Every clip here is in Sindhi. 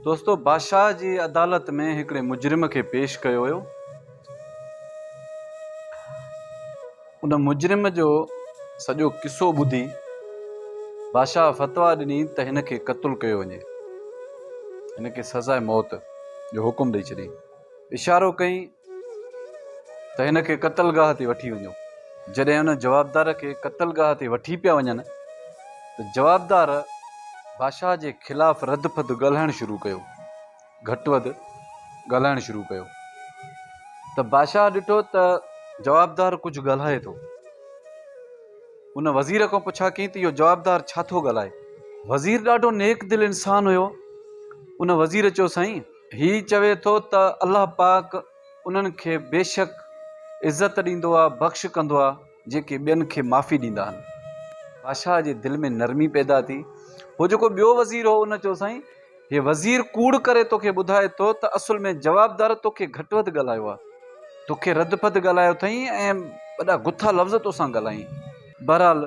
دوستو بادشاهه جي عدالت ۾ هڪڙي مجرم کي پيش ڪيو ويو ان مجرم جو سڄو قصو ٻڌي بادشاهه فتوا ڏني ته هن کي قتل ڪيو وڃي هن کي سزا موت جو حڪم ڏئي ڇڏي اشارو ڪئين ته هن کي قتلگاهه تي وٺي وڃو. جڏهن ان جوابدار کي قتلگاهه تي وٺي پيا وڃن ته جوابدار بادشاهه جي خلاف رڌ ڦڌ ڳالهائڻ شروع ڪيو. گهٽ وڌ ڳالهائڻ شروع ڪيو ته بادشاهه ڏٺو ته جوابدار ڪجهه ڳالهائي ٿو. ان وزير کان پڇا ڪيئي ته اهو جوابدار ڇا ٿو ڳالهائي؟ وزير ڏاڍو نيڪ دل انسان هيو. ان وزير چيو سائين! هي چوي ٿو ته الله پاڪ انهن کي بيشڪ عزت ڏيندو آهي بخش ڪندو آهي جيڪي ٻين کي معافي ڏيندا آهن بادشاهه جي دل ۾ نرمي پيدا ٿي هو جيڪو ٻيو وزير هو ان چيو سائين هي وزير ڪوڙ ڪري توکي ٻڌائي ٿو ته اصل ۾ جوابدار توکي گهٽ وڌ ڳالهايو آهي توکي رڌ پڌ ڳالهايو اٿئي ۽ وڏا گٿا لفظ توسان ڳالهائين بهرحال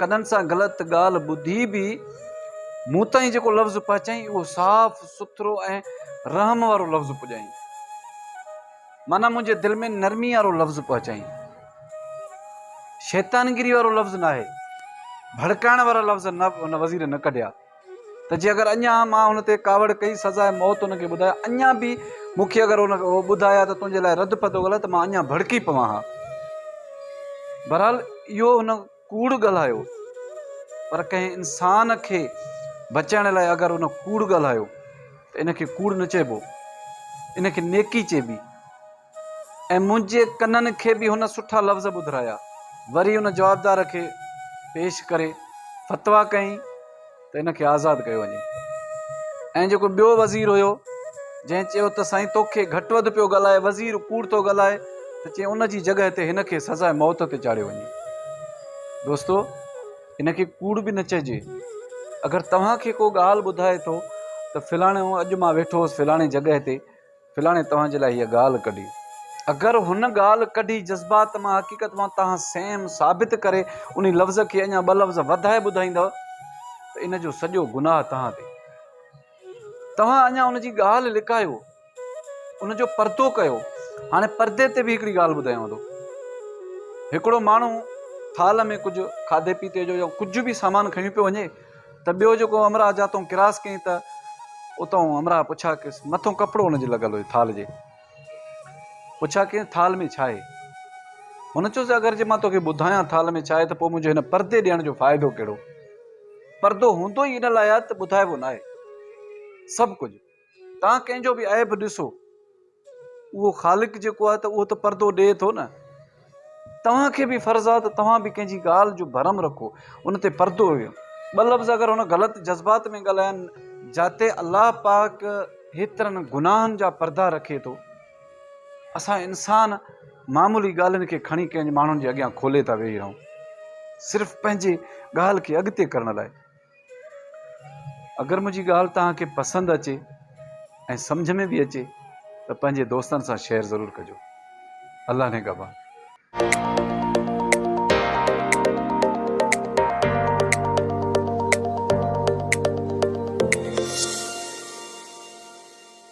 ڪنن سان غلط ڳالهه ٻڌي به مون تائين جيڪو لفظ پهچائين اهو صاف سٿرو ۽ رحم وارو لفظ پڄائين معنيٰ منهنجي دل ۾ نرمي وارو لفظ پهچائين شيطانگيري وارو لفظ ناهي ڀڙڪائڻ وارا لفظ نه ان وزير نه ڪڍيا ته جي اگر اڃا مان هن تي ڪاوڙ ڪئي سزاء موت هن کي ٻڌايا اڃا به مون کي اگر هن ٻڌايا ته تنهنجي لاء رد پد هو ته مان اڃا ڀڙڪي پوان ها بهرحال اهو هن ڪوڙ ڳالهايو پر ڪنهن انسان کي بچائڻ لاء اگر هن ڪوڙ ڳالهايو ته ان کي ڪوڙ نه چئبو ان کي نيڪي چئبي ۽ منهنجي ڪنن کي به هن سٺا لفظ ٻڌرايا. وري ان جوابدار کي پيش ڪري فتويٰ ڪيائين ته ان کي آزاد ڪيو وڃي. ۽ جيڪو ٻيو وزير هيو، جنهن چيو ته سائين توکي گهٽ وڌ پيو ڳالهائي، وزير ڪوڙ ٿو ڳالهائي، ته چيائين ان جي جڳهه تي هن کي سزاء موت تي چاڙهيو وڃي. دوستو! ان کي ڪوڙ به نه چئجي. اگر توهان کي ڪو ڳالهه ٻڌائي ٿو ته فلاڻو اڄ مان ويٺو هوس فلاڻي جڳهه تي، فلاڻي توهان جي لاء هيء ڳالهه ڪڍي. اگر هن ڳالهه ڪڍي جذبات مان حقيقت مان توهان سيم ثابت ڪري انهي لفظ کي اڃا ٻه لفظ وڌائي ٻڌائيندؤ ته ان جو سڄو گناهه توهان تي. توهان اڃا ان جي ڳالهه لڪايو، ان جو پردو ڪيو. هاڻي پردي تي به هڪڙي ڳالهه ٻڌايانو ٿو. هڪڙو ماڻهو ٿالهه ۾ ڪجهه کاڌي پيتي جو يا ڪجهه به سامان کڻي پيو وڃي، ته ٻيو جيڪو همراهه جاتئون ڪراس ڪيائين ته اتئون همراهه پڇا ڪيس، مٿئون ڪپڙو هن جي لڳل هو ٿال جي، پڇا ڪيس ٿال ۾ ڇا آهي؟ هن چيس اگر جي مان توکي ٻڌايان ٿال ۾ ڇا آهي ته پوء منهنجو هن پردي ڏيڻ جو فائدو ڪهڙو؟ پردو هوندو ئي ان لاء آهي ته ٻڌائبو ناهي سڀ ڪجهه. تان ڪنهن جو به عيب ڏسو اهو خالق جيڪو آهي ته اهو ته پردو ڏئي ٿو نه توهان کي به فرض آهي ته توهان به ڪنهن جي ڳالهه جو برم رکو ان تي پردو ويو ٻه لفظ اگر هن غلط جذبات ۾ ڳالهائن جاتي الله پاڪ هيترن گناهن جا پردا رکي ٿو اسان انسان معمولي ڳالهين کي کڻي ڪنهن ماڻهن جي اڳيان کولي ٿا ويهي رهون صرف پنهنجي ڳالهه کي اڳتي ڪرڻ لاء اگر منهنجي ڳالهه توهان کي پسند اچي ۽ سمجهه ۾ به اچي ته پنهنجي دوستن سان شيئر ضرور ڪجو. الله نگهبان.